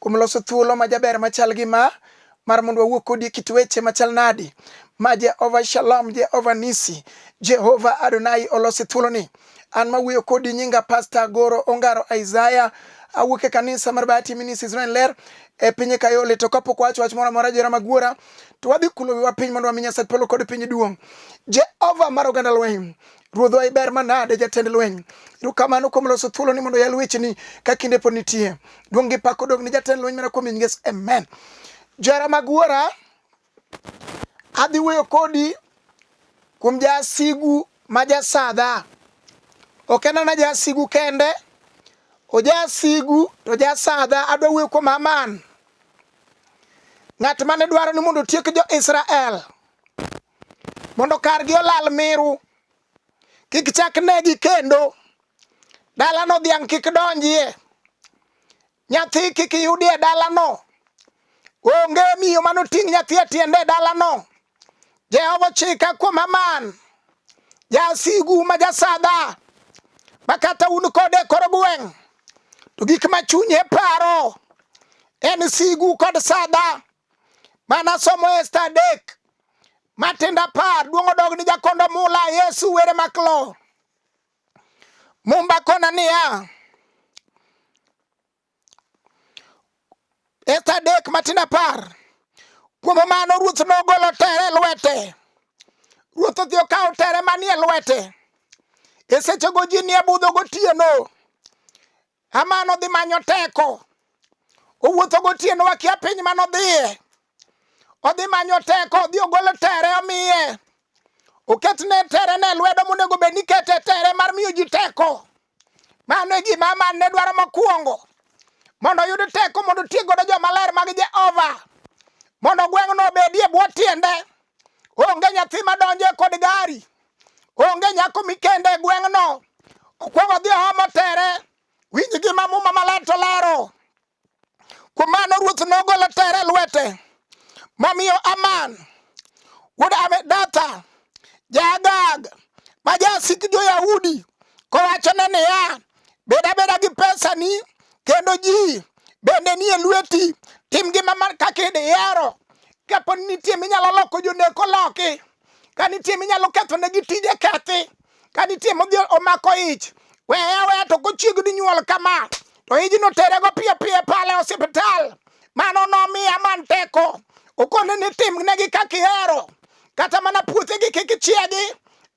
kuom loso thuolo ma jaber machal gi ma mar mondo wawuo kodi e kit weche machal nadi ma Jehova Shalom, Jehova Nisi, Jehova Adonai olosi thuoloni. An ma wuoyo kodi nyinga Pasta Goro Ongaro Isaiah awuok e kanisa mar Bahati Minis Israel Ler e piny Kayole to kapok wacho wach moro amora jera magwora to wadhi kulo wiwa piny mondo wami Nyasaye polo kod piny duong'. Jehova mar oganda lweny Ruodhwa iber manade jatend lweny. Erokamano kuom loso thuolo ni mondo yal wecheni ka kinde pod nitie. Duong' gi pak odog ni jatend lweny mana kuom nyinges. Amen. Jara mag wuora, adhi wuoyo kodi kuom jasigu ma jasadha. Ok en ana jasigu kende, ojasigu to jasadha. Adwa wuoyo kuom Haman, ng'at mane dwaro ni mondo otiek jo-Israel. mondo kargi olal miru kik chak negi kendo dalano dhiang' kik donjie nyathi kik yudie dalano onge miyo manoting' nyathi e tiende e dalano jehova chika kuom aman jasigu ma jasadha ma kata un kode e kor gweng' to gik ma chunye paro en sigu kod sadha Manasomo Esta adek matindo apar duong' odog ni jakondo mula Yesu were maklo Mumba kona niya Esta adek matindo apar kuom mano ruoth nogolo tere lwete ruoth odhi okawo tere manie lwete e sechego ji nie budho gotieno Haman odhi manyo teko, owuotho gotieno wakia piny mane odhiye, odhi manyo teko, odhi ogolo tere omiye, oketne tere ne lwedo monego bed ni kete tere mar miyo ji teko. Mano e gima Haman ne dwaro mokwongo, mondo oyud teko mondo otiek godo jomaler mag Jehova, mondo gweng'no obedie bwo tiende, onge nyathi madonjo e kod gari. Onge nyako mikende e gweng'no. Okwongo dhi ohomo tere. Winj gima muma maler to lero. Kuom mano ruoth nogolo tere lwete momiyo Aman wuod Amedatha Jaagag ma jasik jo-Yahudi kowachone niya, bed abeda gi pesani kendo ji bende nie lweti tim gima kaka idihero kapo ni nitie minyalo loko joneko loki Ka nitie minyalo ketho ne gi tije kethi. Ka nitie modhi omako ich. Weya weya to kochiegni nyuol kama. To ijno tere go piyo piyo pale osiptal. Mano nomiya man teko. Okone ni tim ne gi kakihero. Kata mana puothe gi kikichiegi.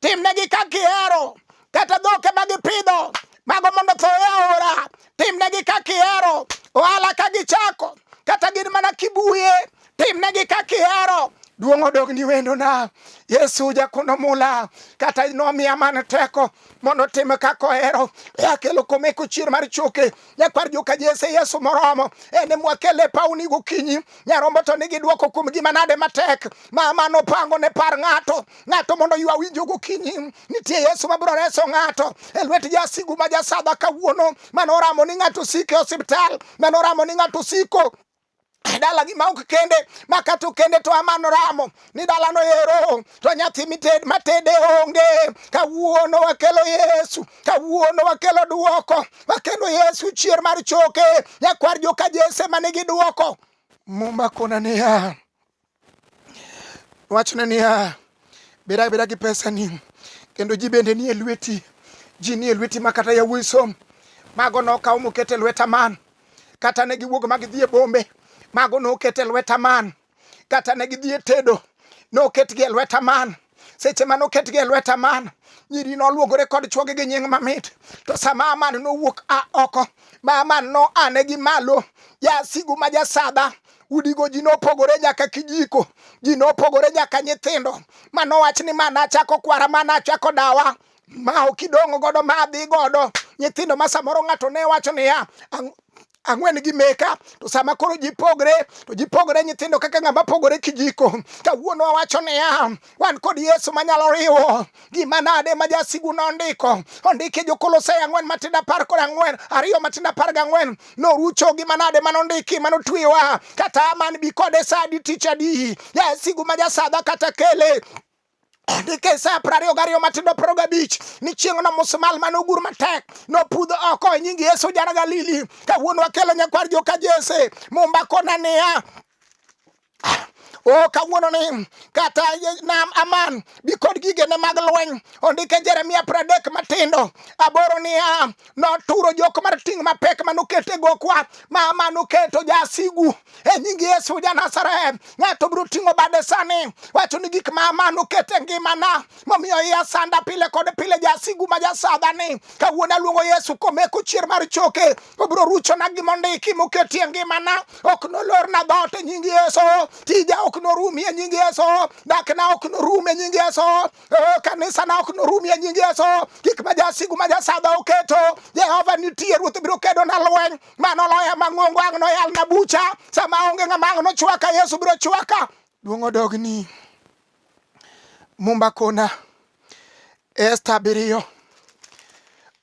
Tim ne gi kakihero. kata dhoke ma gipidho mago mondo tho e aora timnegi ka kihero ohala ka gichako kata gin mana kibuye timnegi ka kihero duong' odog ni wendona yesu jakuno mula kata nomiya man teko mondo tim kako ero e akelo kome kuchier mar choke nyakwar joka jese yesu moromo ene mwakele pauni gokinyi nyarombo to nigi dwoko kuom gima nade matek ma mano pango ne par ng'ato ng'ato mondo ywa winjo gokinyi Nitie Yesu ma biro reso ng'ato e lwet jasigu ma jasadha kawuono, mane oramo ni ng'ato osiko e osiptal, mane oramo ni ng'ato osiko e dala gi maok kende ma kata okende to amano ramo ni dala no ero to nyathi mited matede onge kawuono wakelo yesu kawuono wakelo duoko wakelo yesu chier mar choke nyakwar joka jese manigi duoko muma kona niya Wachne niya, beda beda gi pesani kendo ji bende nie lweti, ji nie lweti ma kata yawuoyi som mago nokaw moket e lweta man kata ne giwuog ma gidhi e bombe mago noket e lweta man kata ne gidhi e tedo noketgi e lweta man seche mane oketgi e lweta man nyiri noluogore kod chwogi gi nying mamit to sama aman nowuok a oko ma aman no ane gi malo jasigu ma jasadha udigo ji nopogore nyaka kijiko ji nopogore nyaka nyithindo manowach ni mana achako kwara mana achako dawa ma ok idong' godo ma adhi godo nyithindo ma samoro ng'ato ne wacho niya ang'wen gi meka to sama koro ji pogre to ji pogre nyithindo kaka ng'ama pogore kijiko kawuono wawacho niya wan kod yesu manyalo riwo gima nade ma jasigu nondiko ondike jokolosai ang'wen matindo apar kod ang'wen ariyo matindo apar gang'wen norucho gima nade manondiki manotwiwa kata man bi kode sa adi tich adi jasigu ma jasadha kata kele nikech apar ariyo gariyo matindo piero gabich ni chieng'no musmal mane ogur matek nopudho oko e nying yesu jana galili kawuono wakelo nyakwar joka jese mombakona niya o oh, kawuono ni kata nam aman bi kod gigene mag lweny ondike jeremia pradek matindo aboro niya noturo jok mar ting' mapek manoketo e gokwa ma manoketo jasigu e nying Yesu ja Nazareth. Ng'ato biro ting'o bade sani wacho ni gik ma manoketo e ngimana momiyo iya sanda pile kod pile jasigu ma jasadhani kawuono aluongo Yesu komeko chier mar choke obiro ruchona gimondiki moketi e ngimana ok nolorna dhoot e nying Yesu tija ok norumi e nying Yesu dakna ok norum e nying Yesu Oh, kanisa na ok norum ya nying Yesu kik ma jasigu ma jasadha oketo Jehova nitie ruoth biro kedo na lweny mano loya mang'ongo ang' noyal na bucha sama onge ng'ama ang' nochwaka Yesu biro chwaka duong' odogni mumba kona Esta abiriyo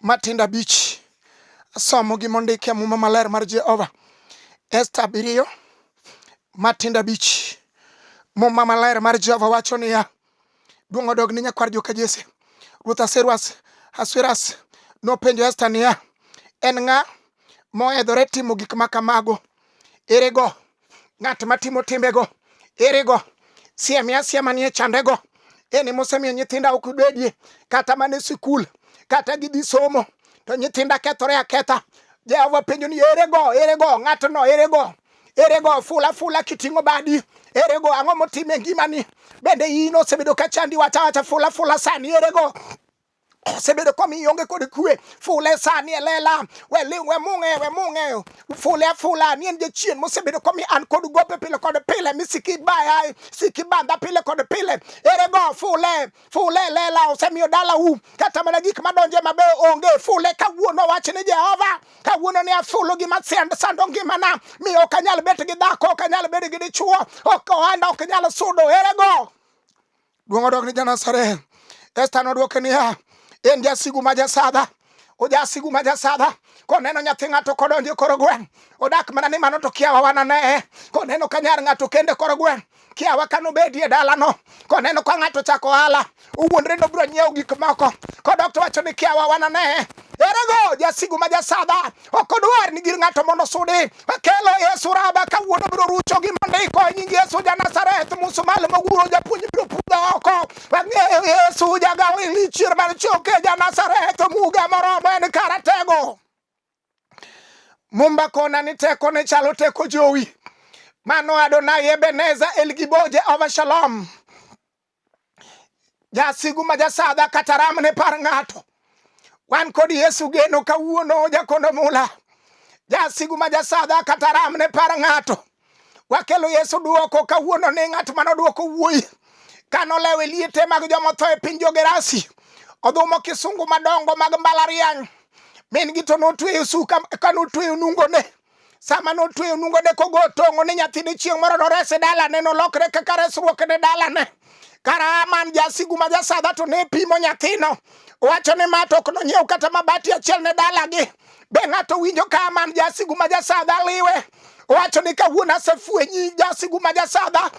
matindo abich asomo gi mondike muma maler mar Jehova Esta abiriyo matindo abich muma maler mar Jehova wacho niya Duong' odog ne nyakwar joka Jesse. Ruoth Aseruas Asueras nopenjo Esta niya, en ng'a mohedhore timo gik ma kamago? Erego ng'at matimo timbego? Erego siemia asia manie chandego? En ema osemiyo nyithinda ok bedie kata mana e sikul kata gidhi somo to nyithinda kethore aketha. Jehova penjo ni erego, erego ng'atno, erego Erego ofula fula kiting'o badi. Erego ang'o motime e ngimani? Bende in osebedo ka chandi wacha wacha fula fula sani erego osebedo komiyo onge kod kwe fule sani e lela we mung'e we mung'e fule afula ni en jachien mosebedo komi an kod gope pile kod pile mi siki baya siki banda pile kod pile ere go fule fule lela osemiyo dala u kata mana gik madonje mabeyo onge fule kawuono wach ni jehova kawuono ni afulo gima sando ngimana mi ok anyal bet gi dhako ok anyal bet gi dichuo ok ohanda ok nyal sudo erego duong' odok ni janasareth esta nodwoke niya en jasigu ma jasadha ojasigu ma jasadha koneno nyathi ng'ato kodonjo koro gweng' odak mana ni mano to kiawa wananeye koneno ka nyar ng'ato kende koro gweng' kiawa kanobedi e dalano koneno ka ng'ato chako ohala owuondre nobiro nyiewo gik moko kodok to wacho ni kiawa wananeye Erego jasigu ma jasadha ok odwar ni gir ng'ato mondo sudi kelo yesu raba kawuono biro rucho gi mondiko e nying yesu ja nazareth musumal moguro japuonj biro pudha oko ang'eyo yesu jagawo ilichier mar choke ja nazareth muga moromo en karatego mumba kona ni teko ne chalo teko jowi mano adonai ebeneza elgibo jehova shalom Jasigu ma jasadha kata ram ne par ng'ato. Wan kod Yesu geno kawuono jakondo mula. Jasigu ma jasadha kata ram ne par ng'ato. Wakelo Yesu duoko kawuono ni ng'at mane oduoko wuoyi kano lewo e liete mag joma otho e piny Jogerasi. Odhumo kisungu madongo mag mbalariany. Min gi to notweyo suka kano otweyo nungone. sama notweyo nungone kogo tong'o ni nyathine chieng' moro nores e dalane nolokre kaka resruok ne dalane kara man jasigu ma jasadha to ne pimo nyathino owacho ni ma to ok nonyiew kata mabati achiel ne dalagi be ng'ato winjo ka man jasigu ma jasadha liwe owacho ni kawuono asefwenyi jasigu ma jasadha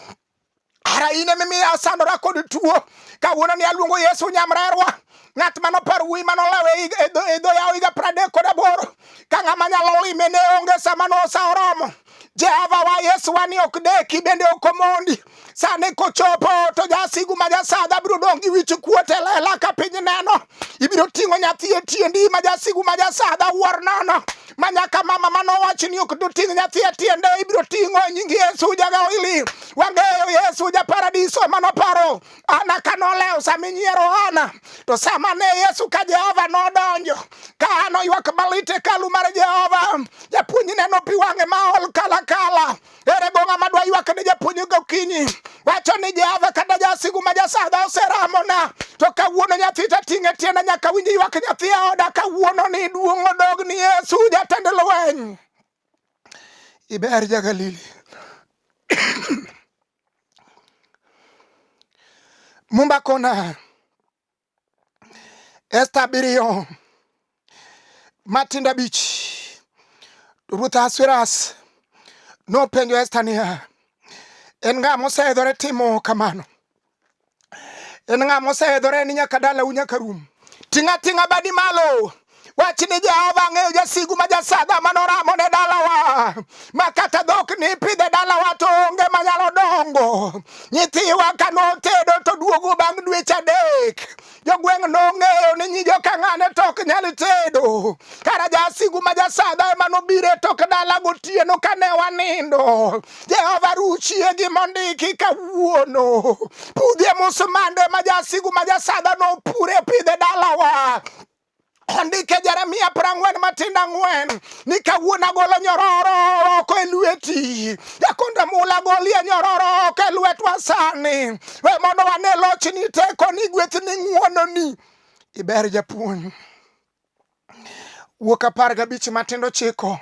Ara in emimiyo asandora kod tuo. Kawuono ni aluongo Yesu nyamrerwa. Ng'at mano par wuoyi mano lawe e dho yawo higa pradek kod aboro. Ka ng'ama nyalo lime ne onge sama nosa oromo. Jehova wa Yesu wa ni ok deki bende ok omondi. Sani kochopo to jasigu ma jasadha biro dong' gi wich kuot e lela ka piny neno. Ibiro ting'o nyathi e tiendi ma jasigu ma jasadha wuor nono. ma nyaka mama mane owachi ni ok doting' nyathi e tiende ibiro ting'o e nying Yesu jagawili. Wang'eyo Yesu ja paradiso mane oparo Ana ka nolewo sama inyiero Ana. To sama ne Yesu ka Jehova nodonjo ka Ana oywak malit e hekalu mar Jehova, japuonjne nopi wang'e ma ol kalakala. Ere go ng'ama dwa ywak ne japuonj gokinyi wacho ni Jehova kata jasigu ma jasadha oseramona to kawuono nyathi tating'e tienda nyaka winj ywak nyathi e oda kawuono ni duong' odog ni Yesu jatend lweny iber jagalili mumba kona Esta abiriyo matindo abich. Ruoth Ahasuerus nopenjo Esta niya, en ng'a moseidhore timo kamano? En ng'a moseidhore ni nyaka dalau nyaka rum? Ting'a ting'a badi malo Wach ni Jehova ang'eyo jasigu ma jasaga ma noramo ne dalawa ma kata dhok ni pidhe dalawa to onge manyalo dongo. Nyithiwa ka notedo to duogo bang' dweche adek. Jogweng' nong'eyo ni nyi jokang'ane to ok nyal tedo. Kara jasigu ma jasaga ema nobiro e tok dala gotieno ka ne wanindo. Jehova ruchie gi mondiki kawuono. Pudhie musmande ma jasigu ma jasaga nopure pidhe dalawa. ondike Jeremia prang'wen matinda ang'wen ni kawuon agolo nyororo oko e lweti jakonde mula golie nyororo oko e lwetwa sani we mondo wane lochni tekoni gwethni ng'wononi iber japuonj wuok apar gabich matindo chiko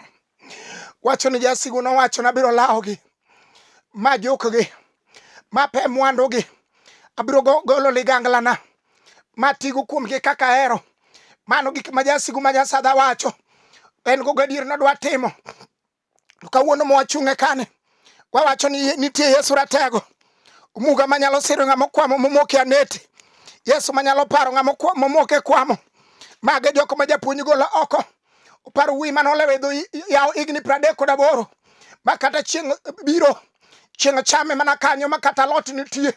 Wacho ni jasigu nowacho, nabiro lawogi ma jukgi ma pe mwandugi, abiro golo liganglana ma tigo kuomgi kaka ahero. Mano gik ma jasigu ma jasadha wacho, en go gadier nodwa timo. To kawuono mwachung'e kani, wawacho ni nitie Yesu Ratego, omuga manyalo siro ng'ama okwamo momoke aneti, Yesu manyalo paro ng'ama momoke kwamo. Mage jok ma japuonj golo oko Opar wuoyi mane olewo e dho yawo higni pradek kod aboro ma kata chieng' biro chieng' chame mana kanyo ma kata lot nitie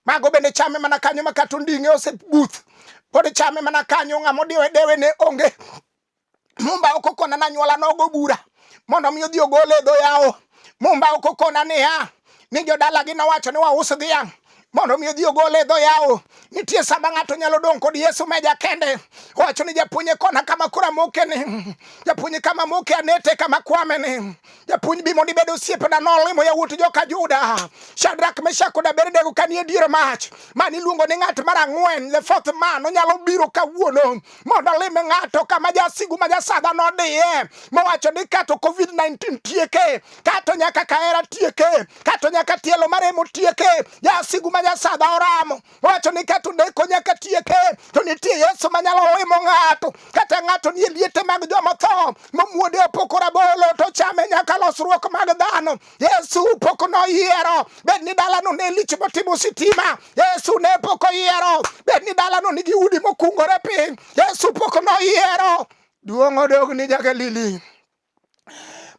mago bende chame mana kanyo ma kata onding'e osebuth pod chame mana kanyo ng'ama odiwe dewe ne onge mumba ok okona na nyuola nogo bura mondo mi odhi ogole e dho yawo mumba ok okona niya ni jodalagi nowacho ni waus dhiang' mondo mi odhi ogole e dho yawo nitie sama ng'ato nyalo dong' kod yesu meja kende owacho ni japuonye kona kama kura moke ni japuonye kama moke anete kama kwame ni japuonj bi mondo ibed osiepena nolimo yawuot joka juda shadrak meshak kod abednego kanie dier mach mani iluongo ni ng'at mar ang'wen the fourth man onyalo biro kawuono mondo olime ng'ato kama jasigu ma jasadha nodiye mowacho ni kato covid-19 tieke kato nyaka kahera tieke kato nyaka tielo maremo tieke jasigu ma jasadha oramo owacho ni kato deko nyaka tieke to nitie yesu manyalo limo ng'ato kata ng'ato nie liete mag jomotho momuode opoko rabolo to chame nyaka losruok mag dhano Yesu pok noyiero bed ni dalano ne lich motimo sitima. Yesu ne pok oyiero bed ni dalano nigi udi mokungore piny. Yesu pok noyiero. Duong' odog ni Jagalili.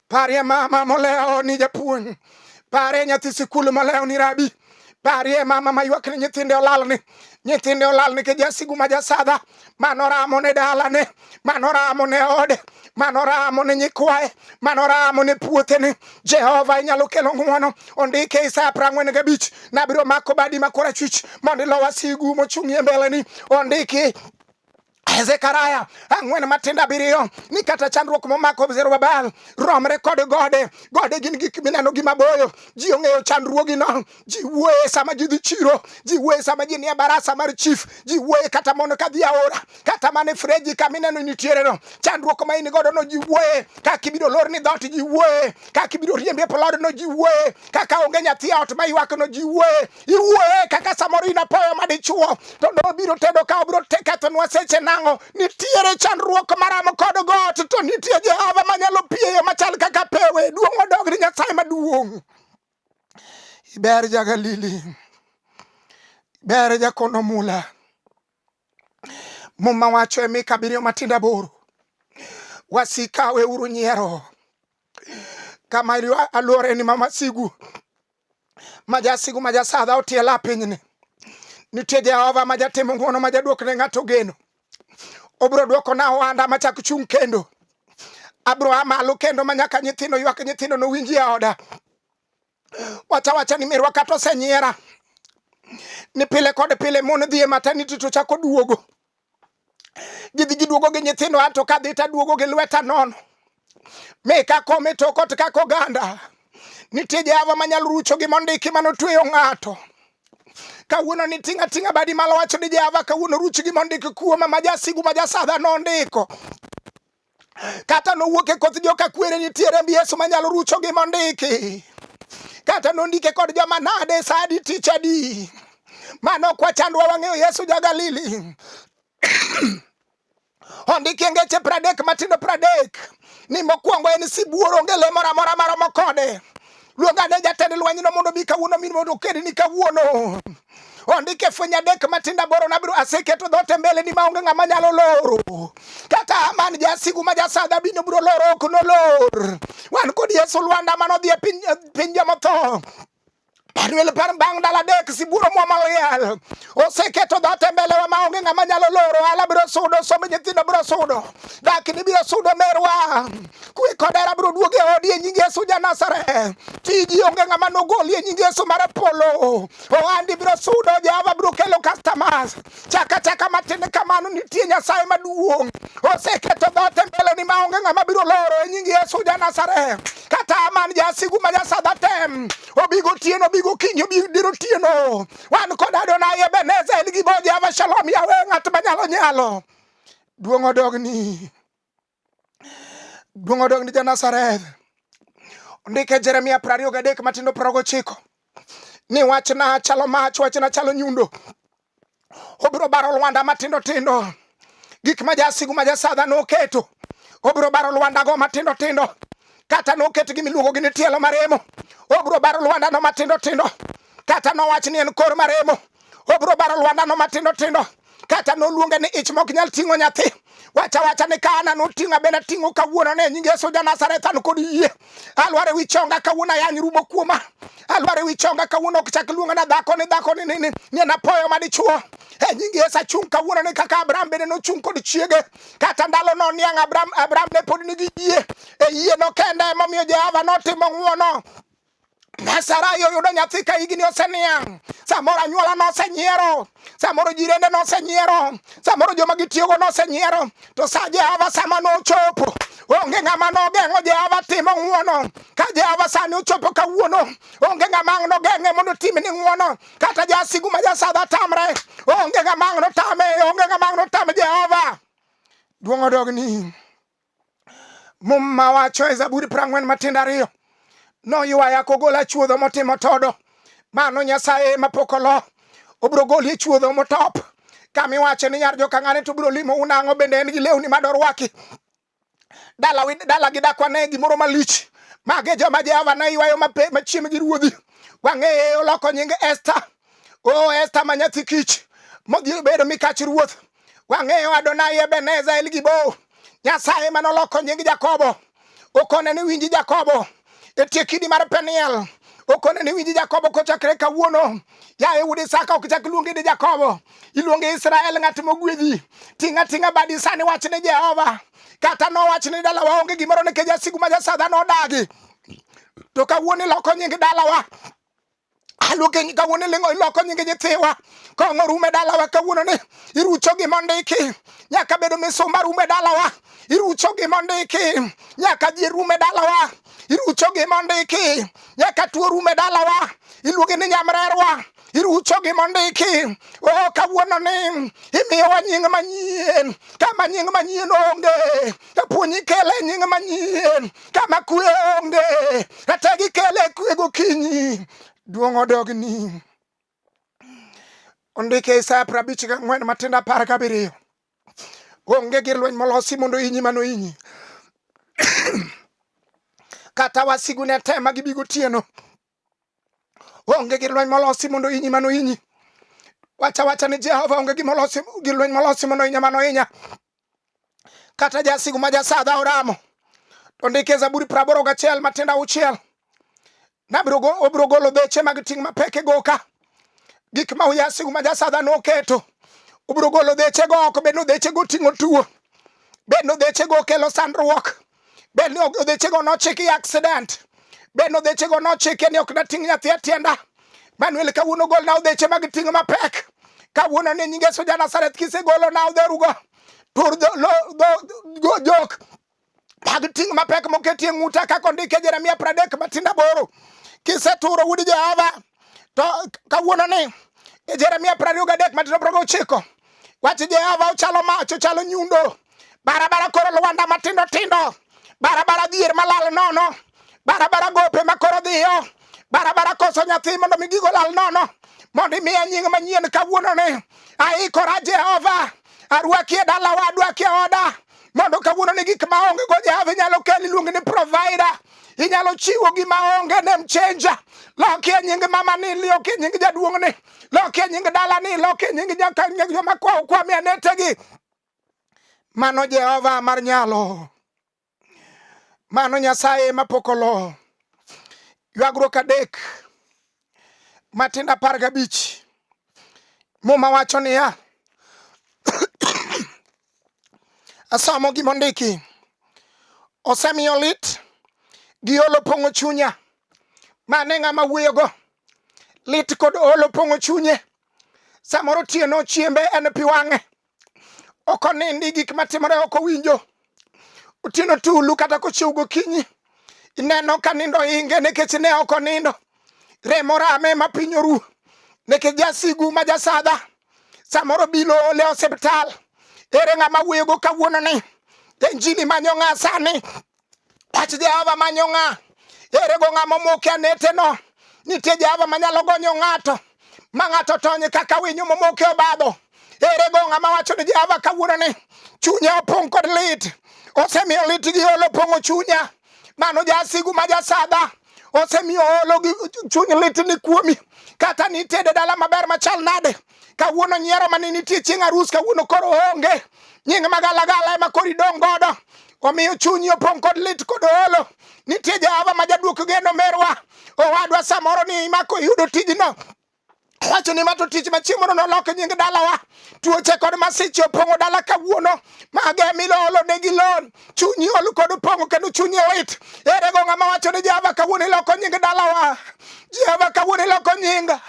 Parie mama molewo ni japuonj. Parie nyathi sikul molewo ni rabi. Barie mama maywak ni nyithinde olalni, nyithinde olalni ke jasigu ma jasadha, mano ramo ne dalane, mano ramo ne ode, mano ramo ne nyikwaye, mano ramo ne puothene. Jehova inyalo kelo ng'wono, ondike Isaya prang'wen gabich, nabiro mako badi ma korachwich mondo ilo wasigu mochung'ie mbeleni, ondiki Zekaria ang'wen matindo abiriyo ni kata chandruok momako Zerubabel romre kod gode. Gode gin gik mineno gi maboyo, ji ong'eyo chandruogino, ji wuoye sama ji dhi chiro, ji wuoye sama ji nie barasa mar chief, ji wuoye kata mondo ka dhi aora, kata mana e freji kama ineno nitiereno. Chandruok ma in godo no ji wuoye, kaka ibiro lor ni dhoot ji wuoye, kaka ibiro riembi e plodno ji wuoye, kaka onge nyathi e ot ma ywakno ji wuoye. iwuoye kaka samoro in apoya madichuo to ne obiro tedo ka obiro tekethonwa seche nang'o nitiere chandruok maramo kod got to nitie jehova manyalo pieyo machal kaka pewe duong' odog ni nyasaye maduong' iber jagalili ber jakono mula muma wacho e mika abiriyo matindo aboro wasika weuru nyiero kama aluoreni ma masigu ma jasigu ma jasadha otiela pinyni nitie jehova ma jatimo ng'uono ma jaduok ne ng'ato geno obiro duoko na ohanda ma chak chung' kendo abiro a malo kendo ma nyaka nyithindo ywak nyithindo nowinji e oda wacha wacha ni mirwa kata osenyiera ni pile kod pile mon dhi e mataniti to chako duogo gidhi giduogo gi nyithindo anto kadhi taduogo gi lweta nono mi kakome tokot kaka oganda nitie jehova manyalo rucho gi mondiki manotweyo ng'ato kawuono ni tinga tinga badi malo wacho ni jehova kawuono ruch gi mondiki kuoma majasigu majasadha nondiko kata nowuok e koth joka kwere nitie remb Yesu manyalo rucho gi mondiki kata nondike kod joma nade sa adi tich adi mano ok wachandwa wang'eyo Yesu ja Galili ondiki e ngeche pradek matindo pradek ni mokwongo en sibuor onge le moro amora maromo kode Luong ane jatend lwenyno mondo obi kawuono mi mondo okedni kawuono. Ondik e fweny adek matindo aboro nabiro aseketo dhoot e mbeleni maonge ng'ama nyalo loro. Kaka Haman jasigu ma jasadha bino biro loro ok nolor. Wan kod Yesu Lwanda mane odhi e piny, piny jomotho. Manuel par bang' dala dek sibuoro mwama oyal. oseketo dhat e mbelewa ma onge ng'ama nyalo loro ala biro sudo somb nyithindo biro sudo dakni biro sudo merwa kwe kod hera biro duogo e odi e nying yesu janasare tiji onge ng'ama nogoli e nying yesu mar polo ohandi biro sudo jehova biro kelo customers chaka chaka matin kamano nitie nyasaye maduong' oseketo dhat e mbeleni ma onge ng'ama biro loro e nying yesu janasare kata aman jasigu ma jasadhatem obigo tieno obigo kinyo obigo diro tieno wan kod Adonai Ebenezer gi bo Jehova Shalom Yawe ng'at manyalo nyalo duong' odogni duong' odogni ja Nazareth ondike Jeremia piero ariyo gadek matindo piero gochiko ni wachna chalo mach wachna chalo nyundo obiro baro lwanda matindo tindo, tindo. gik ma jasigu ma jasadha noketo obiro baro lwandago matindo tindo kata noket gi miluongo gi ni tielo maremo obiro baro lwandano matindo tindo kata nowach ni en kor maremo obiro baro lwandano matindo tindo kata noluonge ni ich mok nyal ting'o nyathi wacha wacha ni ka ana noting'a bende ating'o kawuono ne nying Yesu ja Nazareth an kod yie Alwar ewi chonga kawuono ayany rumo kuoma. Alwar ewi chonga kawuono ok chak luonga na dhako ni dhako ni ni ni anapoyo ma dichuo. E nyingi Yesu achung' kawuono ni kaka Abraham bende nochung' kod chiege. Kata ndalo no niang' Abraham Abraham ne pod nigi yie. E yie no kende emomiyo Jehova notimo ng'wono. Nyasaye oyudo nyathi ka higni oseniang', samoro anyuola nosenyiero, samoro jirende nosenyiero, samoro joma gitiyogo nosenyiero, to sa Jehova sama nochopo onge ng'ama nogeng'o Jehova timo ng'uono. Ka Jehova sani ochopo kawuono, onge ng'ama ang' nogeng'e mondo otim ni ng'uono, kata jasigu ma jasadha tamre, onge ng'ama ang' notame, onge ng'ama ang' notame Jehova. Duong' odogni. Muma wacho e Zaburi prang'wen matindo ariyo, noywaya kogola chuodho motimo todo. Mano Nyasaye mapok olo, obiro goli e chuodho motop. Kama iwacho ni nyar jokang'ane to biro limo unang'o bende en gi lewni ma dorwaki. Dala, dala gi dakwa ne gimoro malich. Mage joma Jehova ne ywayo machiem gi ruodhi. Wang'eye oloko nying Esta. O Esta ma nyathi kich, modhi obedo mikach ruoth. Wang'eyo Adonai Ebeneza El Gibo, Nyasaye mane oloko nying Jakobo, okone ni winji Jakobo, e tie kidi mar Peniel, okone ni winji Jakobo kochakre kawuono. Yaye wuod Isaka, ok chak luongi ni Jakobo, iluongi Israel, ng'at mogwedhi. Ting'a ting'a badi sani, wach ni Jehova. Kata nowach ni dalawa onge gimoro nikech jasigu ma jasadha nodagi, to kawuono iloko nying dalawa aluoke nyinga wuon ilingo iloko nyingi nyithiwa kong'o rume dalawa kawuono ni irucho gima ondiki nyaka bedo misumba rume dalawa irucho gima ondiki nyaka ji rume dalawa irucho gima ondiki nyaka tuo rume dalawa iluonge ni nyamrerwa irucho gima ondiki oh, kawuono ni imiyowa nying manyien kama nying manyien onge kapo ni ikele nying manyien kama kwe onge kata gikele kwe gokinyi duong' odogni ondike Isaya prabich gang'wen matindo apar gabiriyo onge gir lweny molosi mondo inyi mano inyi kata wasigu ne tema gibigo tieno Onge gir lweny molosi mondo inyi mano inyi. Wacha wacha ni Jehova onge gima olosi gir lweny molosi mondo inya mano inya. Kata jasigu ma jasadha oramo. To ndike e Zaburi praboro gachiel matindo auchiel. Nabiro obiro golo beche mag ting' mapek e goka. Gik ma uyasigu ma jasadha noketo. Obiro golo beche go oko bed no beche go ting'o tuo. Bed no beche go kelo sandruok. bed ni odhechego nochiki i accident bed ni odhechego nochike ni ok nating' nyathi e tienda manuel kawuono golna odheche mag ting' mapek kawuono ni nyinge soja nasareth kisegolo na odherugo tur jok mag ting' mapek moketie ng'uta kaka ondike jeremia pradek matinda boro kiseturo wuod jehova to kawuono ni e jeremia prariyo gadek matinda progo ochiko wach jehova ochalo mach ochalo nyundo barabara koro Lwanda matindo tindo, barabara dhier malal nono, barabara gope ma koro dhiyo, barabara koso nyathi mondo mi gigo lal nono, mondo imiya nying manyien kawuono ni aikora Jehova, arwaki e dalawa, adwaki e oda mondo kawuono ni gik ma onge go Jehova inyalo kel iluonge ni provider inyalo chiwo gima onge nem chenja loki e nying mama ni loki e nying jaduong' ni loki e nying dala ni loki e nying joma kwawo kwami anetegi Mano Jehova mar nyalo, mano Nyasaye mapok olo. Ywagruok adek matindo apar gabich muma wacho niya asomo gima ondiki osemiyo lit gi olo pong'o chunya mane ng'ama wuoyogo lit kod olo pong'o chunye samoro tieno chiembe en pi wang'e ok onindi gik matimore ok owinjo otieno tulu kata kochiew gokinyi ineno ka nindo inge nikech ne ok onindo remo rame ma piny oru nikech jasigu ma jasadha samoro bilo ole osiptal ere ng'ama wuoyogo kawuono ni injini manyo ng'a sani Wach Jehova manyo ng'a? Ere go ng'a momoke aneteno? Nitie Jehova manyalo gonyo ng'ato ma ng'ato tony kaka winyo momoke obadho. Ere go ng'a mawacho ni Jehova kawuono ni chunye opong' kod lit, osemiyo lit gi olo pong'o chunya. Mano jasigu ma jasadha osemiyo olo gi chuny lit ni kuomi, kata nitede dala maber machal nade, Kawuono nyiero mane nitie chieng' arus kawuono koro onge. Nying magalagala ema koro idong' godo. Omiyo chunyi opong' kod lit kod olo. Nitie Jehova ma jaduok geno merwa. Owadwa samoro ni imako iyudo tijno. Wacho ni mato tich machiemono nolok nying dalawa. Tuoche kod masiche opong'o dala kawuono. Mage milolo ne gi lon. Chunyi ol kod pong'o kendo chunyi lit. Ere go ng'ama wacho ni Jehova kawuono iloko nying dalawa. Jehova kawuono iloko nyinga.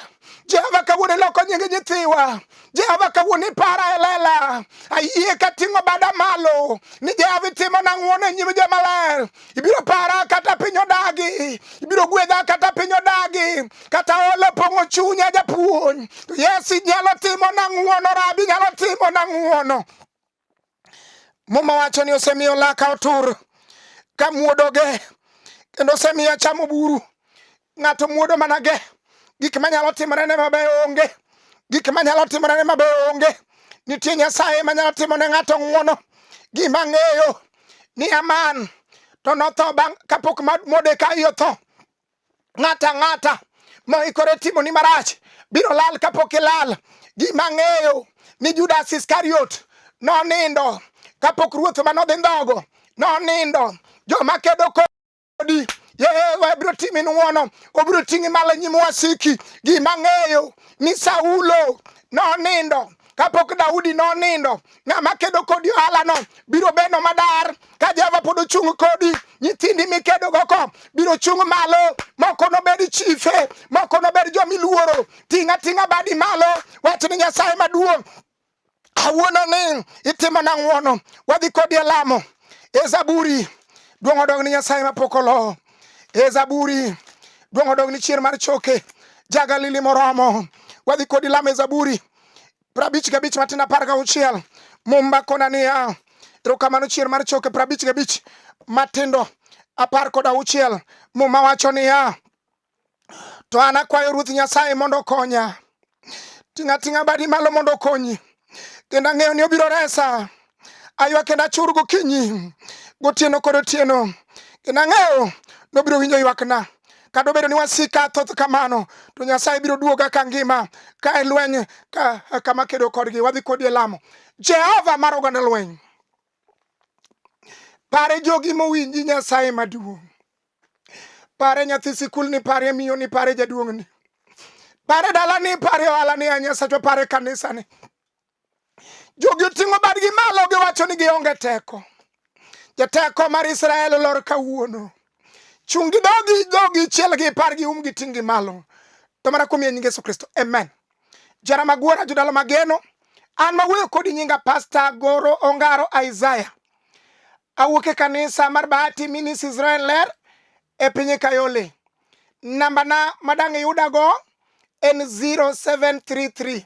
Jehova kawuono iloko nyingi nyithiwa. Jehova kawuono ipara e lela. Ayie ka ting'o bada malo ni Jehova itimo na ng'wono e nyim jomaler. Ibiro para kata piny odagi. Ibiro gwedha kata piny odagi. Kata olo pong'o chunya japuonj. To Yesu inyalo timo na ng'wono, Rabi inyalo timo na ng'wono. Muma wacho ni osemiyo laka otur ka muodoge kendo osemiyo achamo buru. Ng'ato muodo mana ge gik manyalo timorene mabeyo onge, gik manyalo timorene mabeyo onge. Nitie Nyasaye manyalo timo ne ng'ato ng'wono. Gima ng'eyo ni Aman to notho bang' kapok Modekai otho. Ng'ata ng'ata moikore timo ni marach biro lal kapok ilal. Ji mang'eyo ni Judas Iskariot nonindo kapok ruoth ma nodhi ndhogo nonindo. Joma kedo kodi Yehova biro timi ng'wono, obiro ting'i malo nyim wasiki. Ji mang'eyo ni Saulo nonindo kapok Daudi nonindo, ng'ama kedo kodi ohalano biro beno madar. Ka Jehova pod ochung' kodi, nyithindi mikedogo ko biro chung' malo. Moko nobed chife, moko nobed jomiluoro. Ting' ating'a badi malo, wach ni Nyasaye maduong'. Awuono ni itimo na ng'wono, wadhi kodi e lamo. E Zaburi, duong' odog ni Nyasaye mapok olowo. E Zaburi, duong' odog ni chier mar choke. Jagalili moromo, wadhi kodi lamo e Zaburi. prabich gabich matin apar gauchiel mumba kona niya erokamano chier mar choke prabich gabich matindo apar kod auchiel muma wacho niya to an akwayo ruoth nyasaye mondo okonya ting'ating'a badi malo mondo okonyi kendo ang'eyo ni obiro resa aywa kendo achur gokinyi gotieno kod otieno kendo ang'eyo nobiro winjo ywakna kata obedo ni wasika thoth kamano to nyasaye biro duoga ka ngima ka e lweny ka, kama kedo kodgi wadhi kodi e lamo jehova mar oganda lweny pare jogi mowinji nyasaye maduong' pare nyathi sikul ni pare miyo ni pare jaduong' ni pare dala ni pare ohala ni anyasachwa pare kanisa ni Jogi oting'o badgi malo giwacho ni gionge teko. Jateko mar Israel olor kawuono. Chung' gi dogi dhogi chiel gi par gi um gi ting' gi malo. To mana kuom nying Yesu Kristo. Amen. Jara magwara jodalo mageno. An mawuoyo kodi nyinga Pasta Goro Ongaro Isaiah. Awuok e kanisa mar Bahati Minis Israel Ler e piny Kayole. Nambana madang' iyudago en 0733